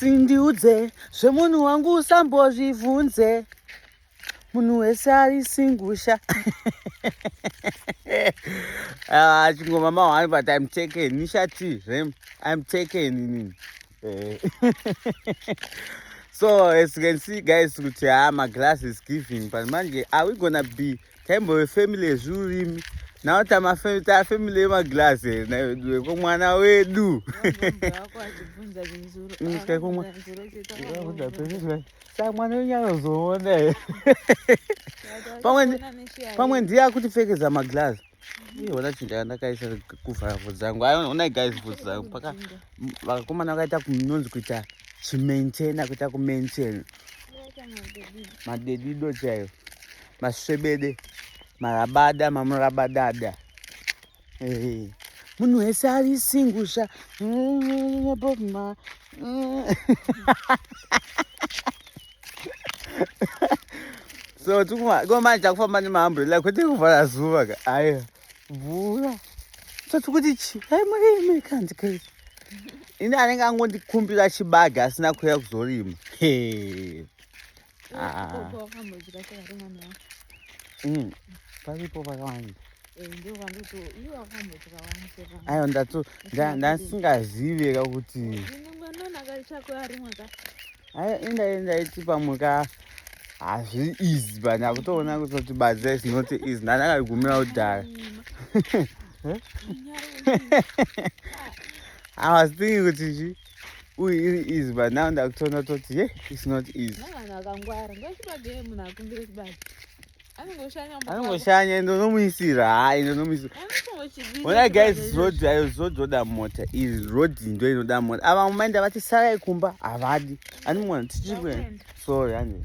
Sindiudze zvemunhu wangu usambozvivhunze munhu wese ari singusha ah, chingoma mahwani but im taken nishati zve im taken ini eh. so as you can see guys kuti haa ah, maglass is giving but manje are we gonna be taimbove family yezviurimi now taa family yemaglass here naiwe ko mwana wedu sa mwana wenyu anozoona here pamwe ndiye akutipfekedza maglass iona chinhu chandakaisa kuvhara vhudzi dzangu onai guys vhudzi dzangu paka vakakomana vakaita kunonzi kuita chimaintaina kuita kumaintaina madedido chaiyo masvebede marabada mamurabadada eh, munhu wese ari singusha bobma so tikomanje takufamba nemahamburela kwete kuvhara zuva ka aya mvura so tikuti chi ai murimi kanzi kei ini anenge angondikumbira chibaga asina kuuya kuzorima Mm. paripo pakawanda aiwa ndasingazive ka kuti enda enda iti pamwe ka hazvi easy but ndakutoona kuti badza is not easy ndandakagumira kudhara i was thinking kuti chii uyu iri easy but now ndakutoona toti ye it's not easy anongoshanya ende unomuisira ha ende unomuisira ona guys road ayo road roda mota iri road ndo inoda mota ava mumainda vati sarai kumba havadi andimuona tichiri kuenda sorry andiwe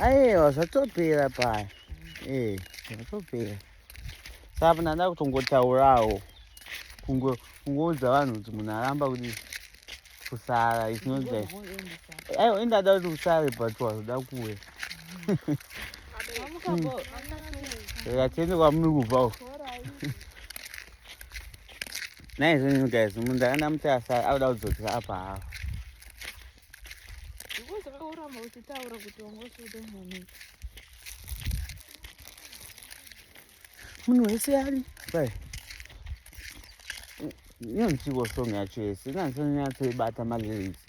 aiwa zvatopera paya ee zvatopera saka ndanda kutongotaurawo kungoudza vanhu kuti munhu aramba kuti kusara isinozva aiwa indada kuti kusare but wazoda kuwe ratende kwamuri kubva naizvonyu guys munhu ndakanda mutasa akuda kudzokera apa havo zvakaurama uchitaura kuti wangosuda mwana munhu wese ari bai iyo nzvimbo song yacho yese inanzonyatsoibata malyrics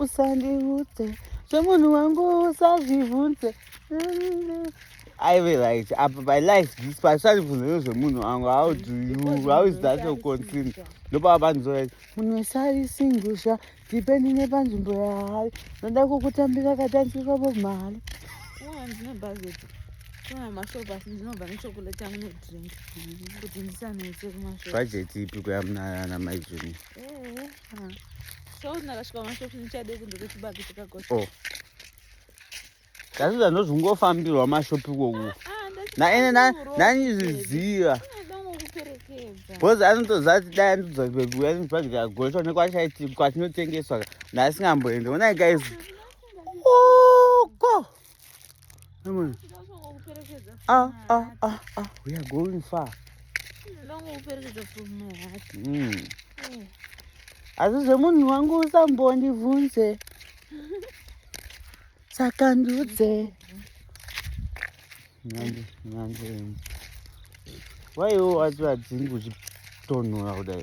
usandiudze zvemunhu wangu usazvivhunze aive right apa by life this pasarivhunzero zvemunhu wangu how do you how is that your concern ndopava panzora munhu wese ari singusha dipeni nepanzvimbo yaari noda kukutambira katanzirwa vo mhari bhajeti ipi kuyamunana maizvini So nakasvika mashops ndichade kunze kwechibage chakakosha. Oh. Kasi zvanozvingofambirwa mashopi koku. Naene nanizviziva. Bhozi anotoziva kuti dai anotodza kuya nechibage chakakosha one kwatinotengeswa naasingamboende. Onai guys. Uko. Ah, ah, ah, ah, we are going far. Mm. Asi zvemunhu wangu usambondivhunze saka ndiudze nyande nyande waiwo wati vadzingi uchitonhora kudai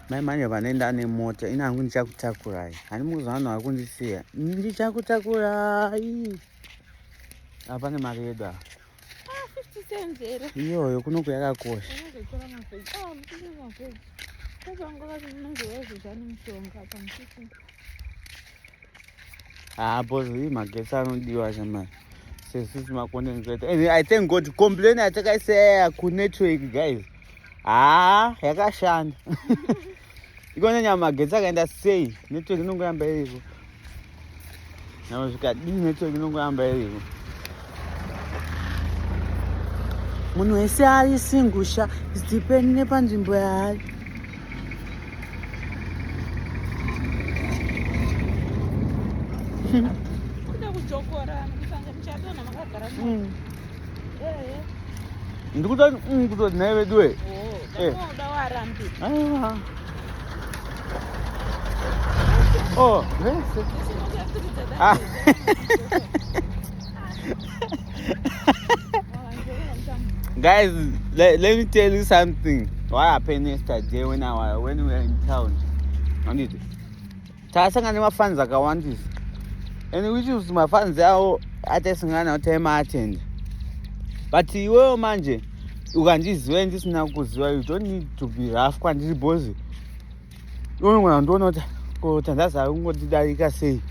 mai manje vanoenda nemota ini hangu ndichakutakurai hani mukuziva vanhu vari kundisiya ndichakutakurai apa ne mari yedu ava ah, iyoyo kunoku yakakosha haa bos ii magetsi anodiwa chamari sesisi makondenzator and i thank god complain atakaisaya kunetwork guys haa yakashanda ikona nyama magetsi akaenda sei network inongoramba iriko nyama zvikadii network inongoramba iriko munhu wese ari singusha zidipeni nepanzvimbo yaari kuda kujokorana kusanga muchadona makagara mm. ndikuda mm, kutoti nhai veduwe oh, eh. ah. oh, vese ah. guys let, let me tell you something what happened yesterday when i when we were in town anditi Tasanga nemafans akawandisa and which is mafans awo ataisangana nawo taimaatenda but iwewo manje ukandiziva ndisina kuziva you don't need to be rough kwandiri bhozi unogona kundiona kuti ko tandaza kungotidarika sei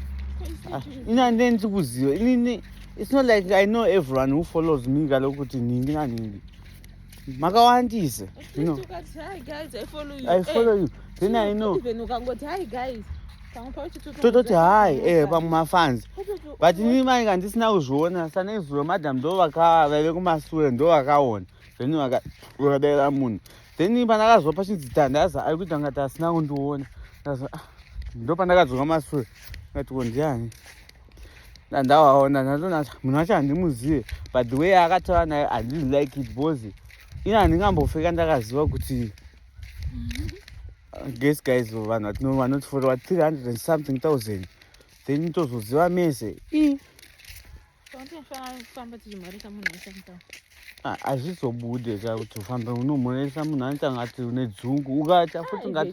ah, ini andine ndiri kuziva inini it's not like i know everyone who follows me kalokuti nhingi nanhingi makawandisa no. i follow you then i know tototi hai eh, pamwe mafans but ini mai kandisina kuzviona sanezuva madam ndo vave kumasure ndo vakaona then vakadaira munhu then pandakazwa pachinzi tandaza ari kuita ngati asina kundiona ah, ndo pandakadzoka masure ngati kondiani ndandavaona ndatonata munhu wacho handimuzive but the way akataura nayo handidi like it because ini handingambofeka ndakaziva kuti mm-hmm. guess guys vanhu vatino vanotifotowa 300 something thousand then tozoziva mese i ah, hazvizobude ka kuti ufambe unomhoresa munhu anotanga ati une dzungu ukatya futi ungati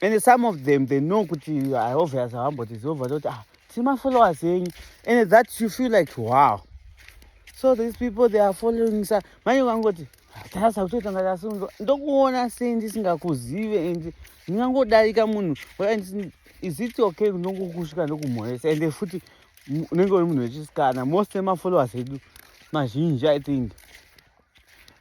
and some of them they know kuti i obvious havambotiziova toti ah tiri mafollowers enyu and that you feel like wow so these people they are following sa manje ukangoti tarasa kutotanga tasunzwa ndokuona sei ndisingakuzive and ndingangodarika munhu is it okay ndongokusvika ndokumhoresa and futi unenge uri munhu wechisikana most emafollowers edu mazhinji i think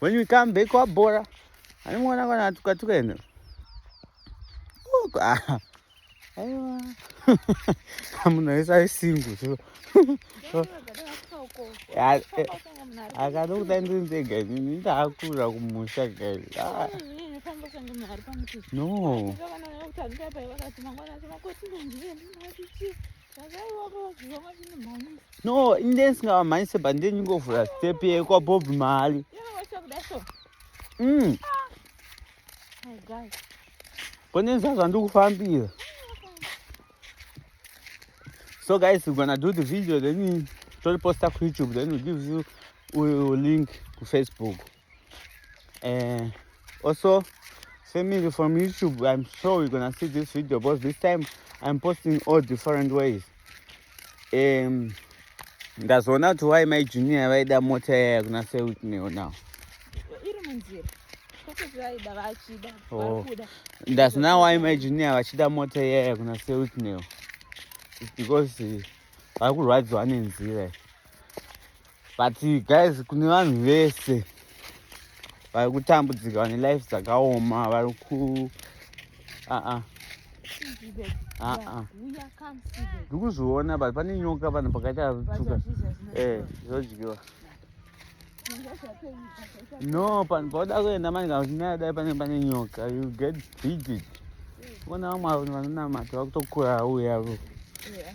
when we come back wabhora animuona kana atuka tuka ende aiwa munhu wese ari single so akada kuda ndiri ndega inini ndaakurira kumusha guys ah. no no inde ndisingavamhanyise but ndiye ndingovhura step yekwabob mhali mm. konenza zvandiri kufambira so guys we're gonna do the video then toliposta kuyoutube then we give you link kufacebook uh, also family from youtube i'm sure we're gonna see this video because this time i'm posting all different ways um ndazoona kuti why mai junior vaida mota yaya kuna sewitneo now oh. ndazina why mai junior vachida mota yaya kuna sewitneo because vari kurwadziwa nenzira but guys kune vanhu vese vari kutambudzika vane life dzakaoma vari ku aa aa ndikuzviona but pane nyoka vanhu pakaita tuka eh zodyiwa no panhu pauda kuenda mani kana uchinaya dai pane pane nyoka you get bigit vona vamwe vanhu vanonamata vakutokura uya vo eh,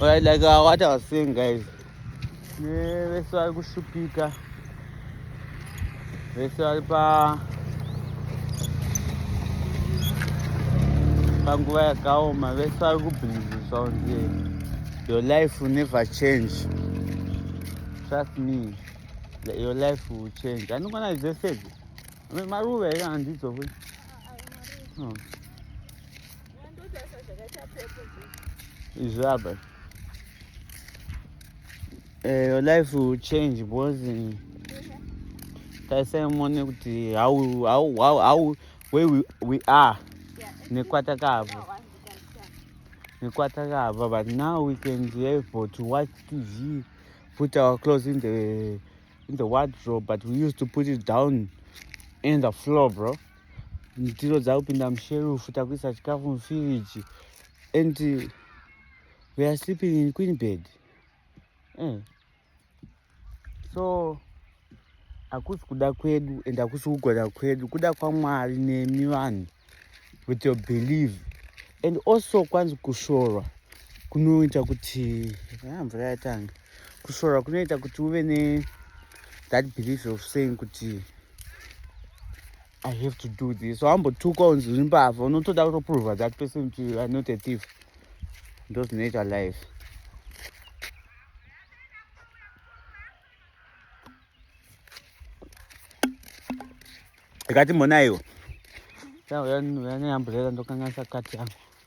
Alright, like uh, what I was saying, guys. Vese vari kushupika. Vese vari pa panguva yakaoma. Vese vari kubhiliziswa kunzi your life will never change. Trust me, your life will change. Anokwana zvese izvi. Maruva here handidzo futi? No. izvi apa eh, your life will change because eh, taisai muone kuti how, how, how, how where we, we are nekwatakabva nekwatakabva but now we can be able to watch tv put our clothes in the in the wardrobe but we used to put it down in the floor bro ndiro dzakupinda musherufu takuisa chikafu mufiriji and we are sleeping in queen bed mm. so hakusi kuda kwedu and hakusi kugona kwedu kuda kwamwari nemi vanhu with your believe and also kwanzi kushorwa kunoita kuti ah, mvura yatanga kushorwa kunoita kuti uve ne that belief of saying kuti I have to do this. So I'm two cones in bath. I'm not allowed to prove that person to are not a thief. Those nature life. Ikati mona hiyo. Sasa wewe ni ambrela ndo kanga sakati yangu.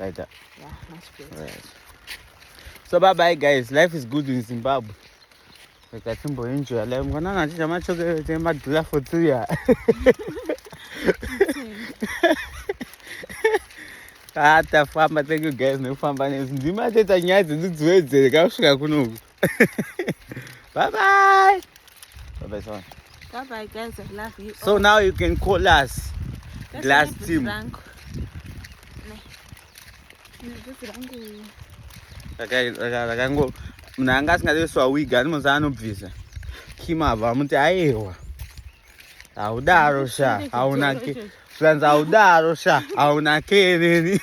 like that yeah much better right. so bye bye guys life is good in zimbabwe rega timboenjoya life mwanana achidya machokereti emadhula for two year ah tafamba thank you guys nekufamba nezi ndima teta nyaya dzedu dziwedzere kakusvika kunoku bye bye. Bye bye, son. Bye bye, guys. I love you. So all. now you can call us That's glass team. rakango munhu anga asingaiswa wig ani munhu anobvisa kimabva amuti ayewa haudaro sha haunake zvanzi haudaro sha haunake neni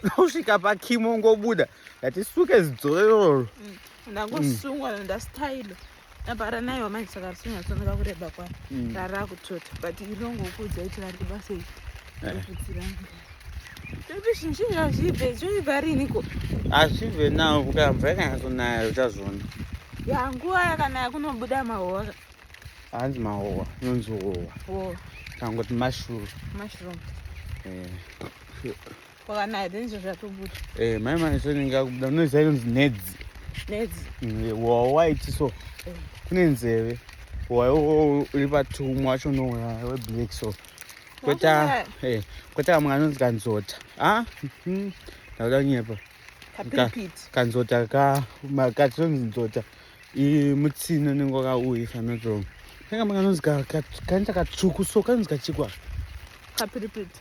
nosvika pakimo ngobuda ndatisuke zidzoro iroro mm, ndangosungwa mm. ndastailo apara nayo wamanje saka risinyatsoneka kureba kwani mm. rarakutsvota but irongokuudza kuti vari kubasa iri rokudziranga eh. azvive nawo kuka mvura ikanyatsonaya uchazviona ya nguva yakanaya kunobuda mahowa hanzi mahowa inonzi howa kangoti mashroom mashroom eh. Kwakanaya denje zvatobuda. Eh, mai mani so ninga kubuda noise inonzi nedzi. Nedzi. Mm, wa white so. Eh. Kune nzeve. Wa uri patumwa wacho no we black so. Kweta eh kweta mwana anonzi kanzota. Ah? Mhm. Ndauda kunyepa. Kapipiti. Kanzota ka makati onzi nzota. I mutsino ningo ka uyi fanotso. Kanga mwana anonzi ka kanta katsvuku so kanonzi kachikwa. Kapipiti.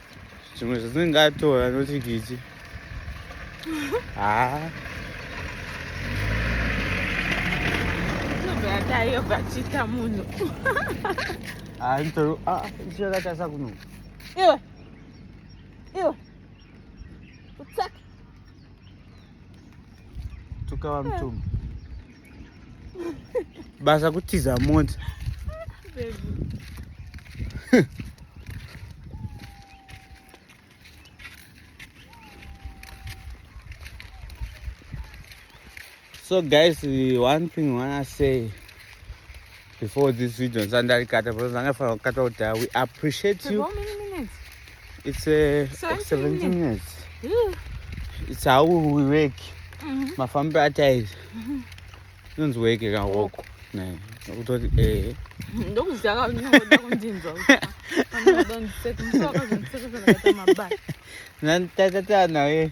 zvimwe zvatingatora noti kichi haa tayo vachita munhu anto ah, chakatasa kuno iwe iwe utsaka Tukava mtumbi. Basa kutiza mota. so guys one thing wanna say before this video ndisati ndarikata because ndanga fanira kukata kuti we appreciate you it's a uh, 17 minutes it's how we work mm-hmm. mafambi ataiza mm-hmm. inonzi weke kahoko kutoti ehe ndokuziva kaunyoda kundinzwa nanditatata naye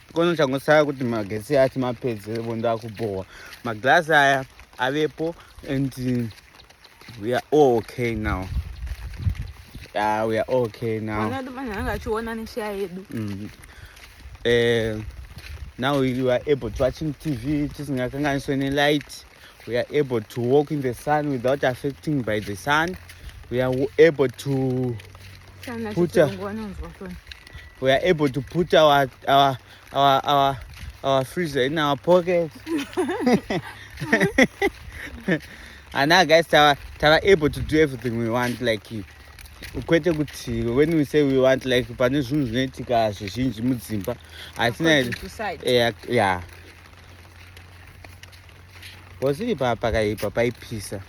kono changosara kuti magetsi ati mapedze vondo akubhowa maglass aya avepo and we are all okay now yeah, we are all okay now mm. eh, now you are able to watching tv tisingakanganiswe nelight we are able to walk in the sun without affecting by the sun we are able to put a, we are able to put our our our our, our freezer in our pocket and now guys tava tava able to do everything we want like you kwete kuti when we say we want like pane zvinhu zvinoitika zvizhinji mudzimba hatina ya Bosiri pa pakaipa paipisa.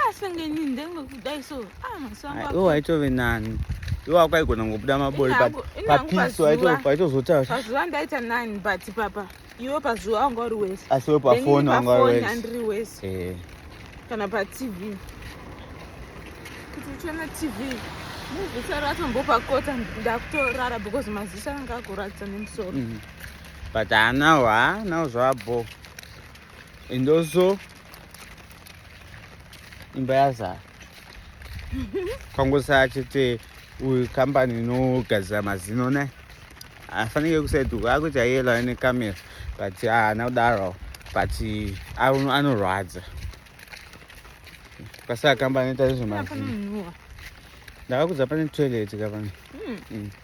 Asengeni ah, ndengo kudai so. Ah maswangu. Ah, iwo aitove nani. Iwo akaigona ngobuda mabori pa papiso aito paitozotaura. Pazuva ndaita nani but papa. Iwo pazuva wanga uri wese. Asi we pa phone wanga uri wese. Andri wese. Eh. Kana pa TV. Kuti uchona TV. Muzisa ratombopa kota ndakutorara because maziso anga akuratidza nemusoro. Mm -hmm. but haanawo haanawo zvabho and also imba yazara kwangosaa chete uyu kambani inogadzira mazino ne afanike kusaiduka akuti ayelo ane kamera but haana kudaro but anorwadza kwasaka kambani ita nezvemazino ndakakudza pane toilet kapani hmm. hmm.